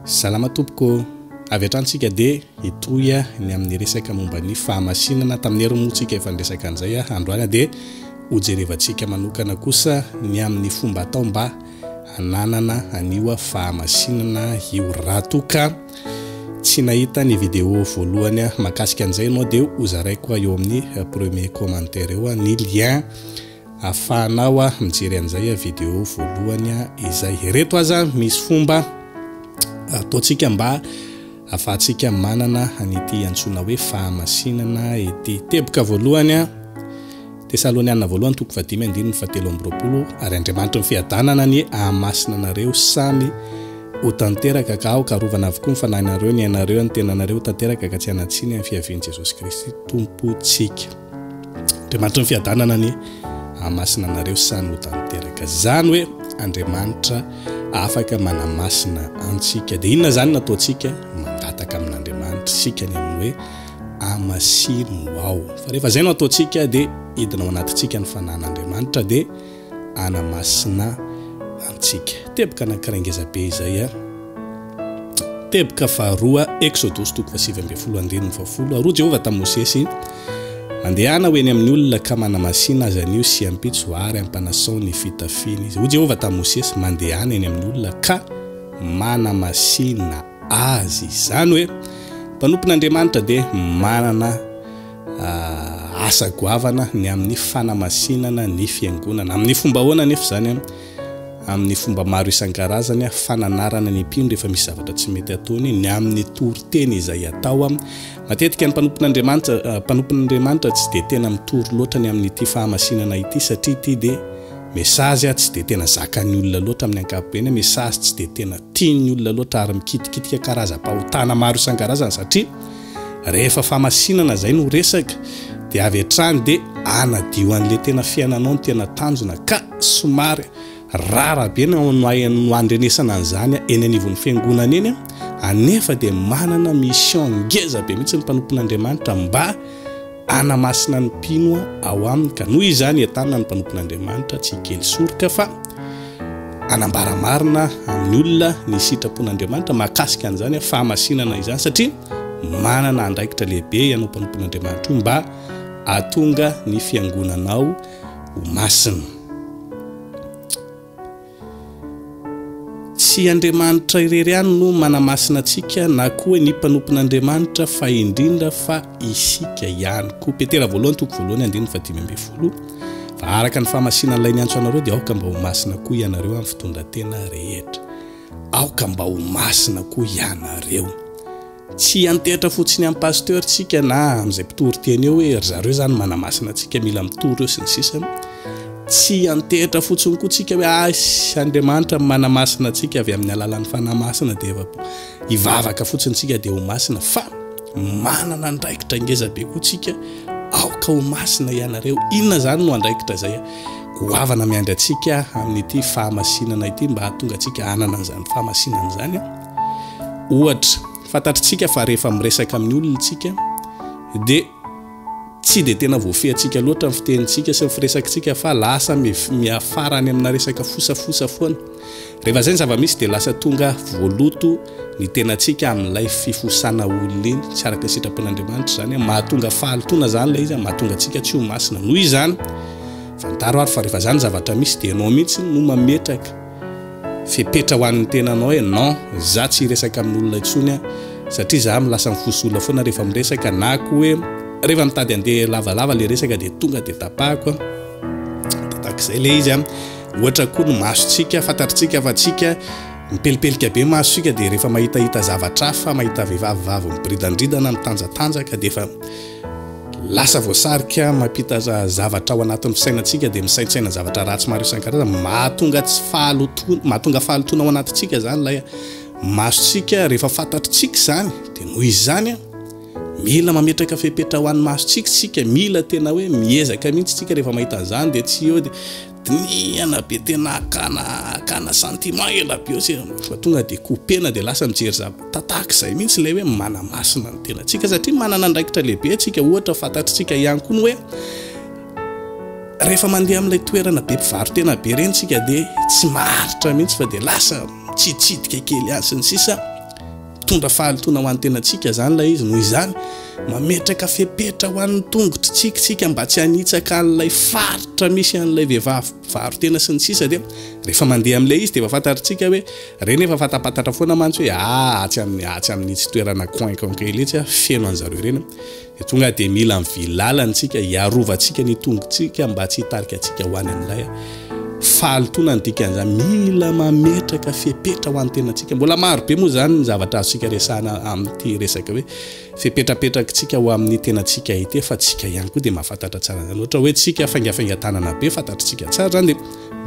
Salama tompoko ô! Avy hatrany tsika dia hitohy ny amin'ny resaka momba ny fahamasinana tamin'ny hery moa tsika efa niresaka an'izay androany dia hojerevantsika manokana kosa ny amin'ny fomba atao mba hananana an'io fahamasinana io raha toa ka tsy nahita ny vidéo voalohany mahakasika an'izay ianao dia hozaraiko eo amin'ny premier commentaire eo ny lien Afahanao mijery an'izay video voalohany izay. Ireto aza misy fomba ataontsika mba afahantsika manana an'ity antsoina hoe fahamasinana ity. Teboka voalohany, Tesaloniana voalohany toko fahadimy andininy fahatelo amby roapolo, ary Andriamanitry ny fiadanana anie hahamasina anareo samy ho tanteraka ka aoka arovana avokoa ny fanahinareo, ny ainareo, ny tenanareo ho tanteraka ka tsy hanan-tsiny amin'ny fiavian'i Jesosy Kristy Tompontsika. Andriamanitry ny fiadanana anie hahamasina anareo samy ho tanteraka zany hoe Andriamanitra afaka manamasina antsika de inona zany nataontsika mangataka amin'Andriamanitra sika ny amin'ny hoe amasino ao fa rehefa zay no ataontsika de hidina ao anatintsika ny fanan'Andriamanitra de Ana Masina antsika. Teboka anankiray ngeza be izay a. Teboka faharoa, Eksodosy toko fahasivy ambin'ny folo andininy fahafolo, Aroa Jehovah tamin'i Mosesy, Mandehana ho eny amin'ny olona ka manamasina azy anio sy ampitso ary ampanasao ny fitafiany izy. Hoy Jehovah tamin'i Mosesy, Mandehana eny amin'ny olona ka manamasina azy. Izany hoe, mpanompon'Andriamanitra dia manana. asa goavana ny amin'ny fanamasinana ny fiangonana. Amin'ny fomba ahoana anefa izany? Amin'ny fomba maro isan-karazany, fananarana ny mpino rehefa misy zavatra tsy mety ataony, ny amin'ny toriteny izay atao. Matetika ny mpanompon'Andriamanitra eh, mpanompon'Andriamanitra tsy dia tena mitory loatra ny amin'ity fahamasinana ity satria ity dia mesazy ah, tsy dia tena zakan'ny olona loatra amin'ny ankapobeny, mesazy tsy dia tena tian'ny olona loatra ary mikitikitika karazam-pahotana maro isan-karazany satria Rehefa famasinana zay no resaka de avy hatrany de anadio anle tena fiainanao ny tena tanjona ka somary rara be ny no handrenesana an'zany eny anivon'ny fiangonana eny a, anefa de manana mission ngeza be mihitsy ny mpanompon'Andriamanitra mba Hanamasina ny mpino ao aminy, ka noho izany entanina ny mpanompon'Andriamanitra tsy hikely soroka fa hanambara marina amin'ny olona ny sitrapon'Andriamanitra mahakasika an'izany fahamasinana izany, satria manana andraikitra lehibe ianao mpanompon'Andriamanitra io mba hahatonga ny fiangonanao ho masina. Tsy Andriamanitra irery ihany no manamasina antsika na koa hoe ny mpanompon'Andriamanitra fa indrindra fa isika ihany koa. Petera voalohany toko voalohany andininy fahadimy ambin'ny folo, Fa araka ny fahamasinan'Ilay niantso anareo dia aoka mba ho masina koa ianareo amin'ny fitondran-tena rehetra. Aoka mba ho masina koa ianareo. Tsy antehitra fotsiny amin'ny pasteur tsika na amin'izay mpitory teny eo hoe ry zareo izany manamasina antsika mila mitory eo sy ny sisa. Tsy antehitra fotsiny koa tsika hoe asy Andriamanitra manamasina antsika avy amin'ny alalan'ny fanahy masina dia efa hivavaka fotsiny tsika dia ho masina fa manana andraikitra ngeza be koa tsika aoka ho masina ianareo. Inona izany no andraikitra izay goavana miandry antsika amin'ity fahamasinana ity mba hahatonga antsika hanana an'izany fahamasinana izany? Ohatra, fantatritsika fa rehefa miresaka amin'ny olona isika dia tsy dia tena voafehintsika loatra ny fitenintsika sy ny firesakintsika fa lasa miafara any amina resaka fosafosa foana. Rehefa izay ny zava-misy dia lasa tonga voaloto ny tenantsika amin'ilay fifosana olona iny. Tsy araka ny sitrapon'Andriamanitra izany. Mahatonga fahalotoana izany ilay izy, mahatonga antsika tsy ho masina. Noho izany, fantaro ary fa rehefa izany zavatra misy dia ianao mihitsy no mametraka Fepetra ho an'ny tenanao hoe non, za tsy hiresaka amin'olona intsony an, satria za milasa mifoso olona foana rehefa miresaka, na koa hoe rehefa mitady handeha lavalava le resaka dia tonga dia tapahako an, takizay le izy an, ohatra koa ny masontsika, fantatritsika fa tsika mipelipelika be masontsika dia rehefa mahitahita zavatra hafa, mahita vehivavy vavy miboridandridana, mitanjatanjaka dia efa Lasa voasarika mampita zavatra ao anatin'ny fisainantsika dia misaintsaina zavatra ratsy maro isan-karazany. Mahatonga tsy fahalotoana, mahatonga fahalotoana ao anatintsika izany ilay masontsika rehefa fantatritsika izany. Dia noho izany, mila mametraka fepetra ho an'ny masontsika isika, mila tena hoe miezaka mihitsy isika rehefa mahita an'izany dia tsy eo dia Dinihana be tena hakana hakana sentiment ela be eo fa tonga dia couper-na dia lasa mijery zava tahaka izay mihitsy ilay hoe manamasina ny tenantsika satria manana andraikitra lehibe antsika ohatra fantatritsika ihany koa ny hoe rehefa mandeha amin'ilay toerana be mpivarotena be ireny tsika dia tsy maharitra mihitsy fa dia lasa mitsiditsidika kely ihany sy ny sisa Mitondra fahalotoana ho an'ny tenantsika izany ilay izy, noho izany, mametraka fepetra ho an'ny tongotritsika isika mba tsy hanitsaka an'ilay faritra misy an'ilay vehivavy mpivaro-tena sy ny sisa dia rehefa mandeha amin'ilay izy dia efa fantatritsika hoe ireny efa fatapatatra foana mantsy hoe ah atsy amin'ny atsy amin'itsy toerana coin coin kely itsy ah feno an'zareo ireny Dia tonga dia mila mivily lalana isika hiarovantsika ny tongotsika mba tsy hitarika antsika ho any amin'ilay fahalotoana ny dikan'izany. Mila mametraka fepetra ho an'ny tenantsika. Mbola maro be moa izany ny zavatra azontsika resahana amin'ity resaka hoe fepetrapetrakitsika ho amin'ny tenantsika ity fa tsika ihany koa dia mahafantatra tsara izany. Ohatra hoe tsika faingafaingan-tanana be fantatritsika tsara izany dia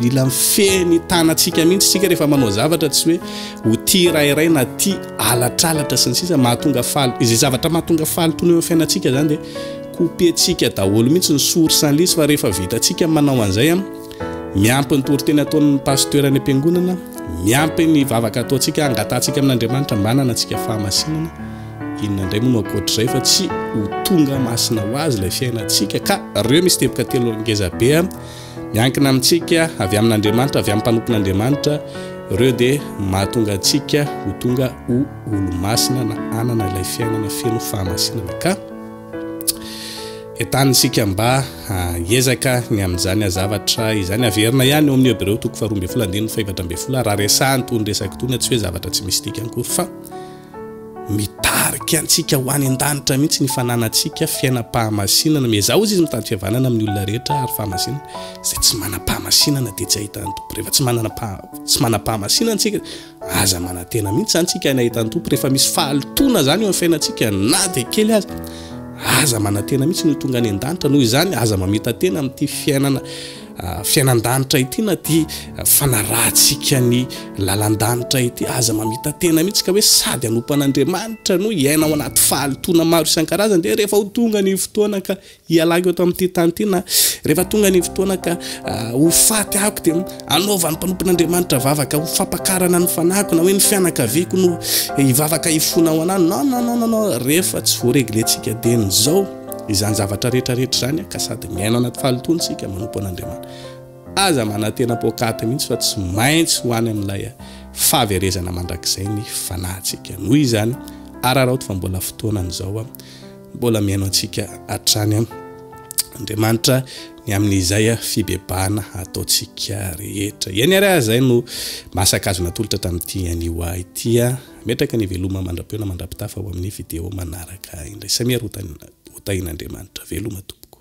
Mila mifehy ny tanantsika mihitsy isika rehefa manao zavatra tsy hoe ho tia rairay na tia alatralatra sy ny sisa mahatonga faly izay zavatra mahatonga faly tony eo amin'ny fiainantsika izany dia kopentsika daholo mihitsy ny sory sy ny lisy fa rehefa vitantsika manao an'izay an miampy ny toriteny ataon'ny pasteur any am-piangonana miampy ny vavaka ataontsika hangatantsika amin'Andriamanitra mba hananantsika fahamasinana inona indray moa no ankoatr'izay fa tsy ho tonga masina ho azy ilay fiainantsika ka reo misy teboka telo ngezabe Miankina amintsika, avy amin'Andriamanitra, avy amin'ny mpanompon'Andriamanitra, ireo dia mahatonga antsika ho tonga ho olo-masina na hanana ilay fiainana feno fahamasinana. Ka entanin isika mba hiezaka ny amin'izany azavatra izany. Averina ihany eo amin'ny Hebreo toko faharoa ambin'ny folo andininy fahefatra ambin'ny folo, raha resahany itony resaka itony, tsy hoe zavatra tsy misy dikany akory fa Mitarika antsika ho any an-danitra mihitsy ny fananantsika fiainam-pahamasinana. Miezaha ozy izy mitady fihavanana amin'ny olona rehetra ary fahamasinana. Izay tsy manam-pahamasinana dia tsy ahitan'ny Tompo. Rehefa tsy manana tsy manam-pahamasinana antsika, aza manantena mihitsy izany tsika any ahitan'ny Tompo. Rehefa misy fahalotoana izany eo amin'ny fiainantsika na dia kely aza, aza manantena mihitsy ny ho tonga any an-danitra. Noho izany, aza mamitantena amin'ity fiainana. Fiainan-danitra ity na ity fanarahantsika ny lalan-danitra ity, aza mamita-tena mihitsy ka hoe sady hanompo an'Andriamanitra no hiaina ao anaty fahalotoana maro isan-karazany dia rehefa ho tonga ny fotoana ka hialako eto amin'ity tany ity na rehefa tonga ny fotoana ka ho faty ako dia anaovan'ny mpanompon'Andriamanitra vavaka ho fampakarana ny fanahiko na hoe ny fianakaviako no hivavaka hifona ho anany. Non, non, non, non, non, rehefa tsy voareglentsika dieny izao. Izany zavatra rehetra rehetra izany ka sady miaina anaty fahalotoana isika manompo an'Andriamanitra. Aza manantena poakaty mihitsy fa tsy maintsy ho any amin'ilay fahaverezana mandrakizay ny fanahintsika. Noho izany, araraoty fa mbola fotoanany izao, mbola mihaino antsika hatrany Andriamanitra ny amin'izay fibebahana ataontsika rehetra. Eny ary aza izay no masaka azo natolotra tamin'ity anio ahy ity. Hametraka ny veloma mandra-peo na mandra-pitafa ao amin'ny video manaraka indray. Samia ry hotahin'Andriamanitra. Veloma tompoko.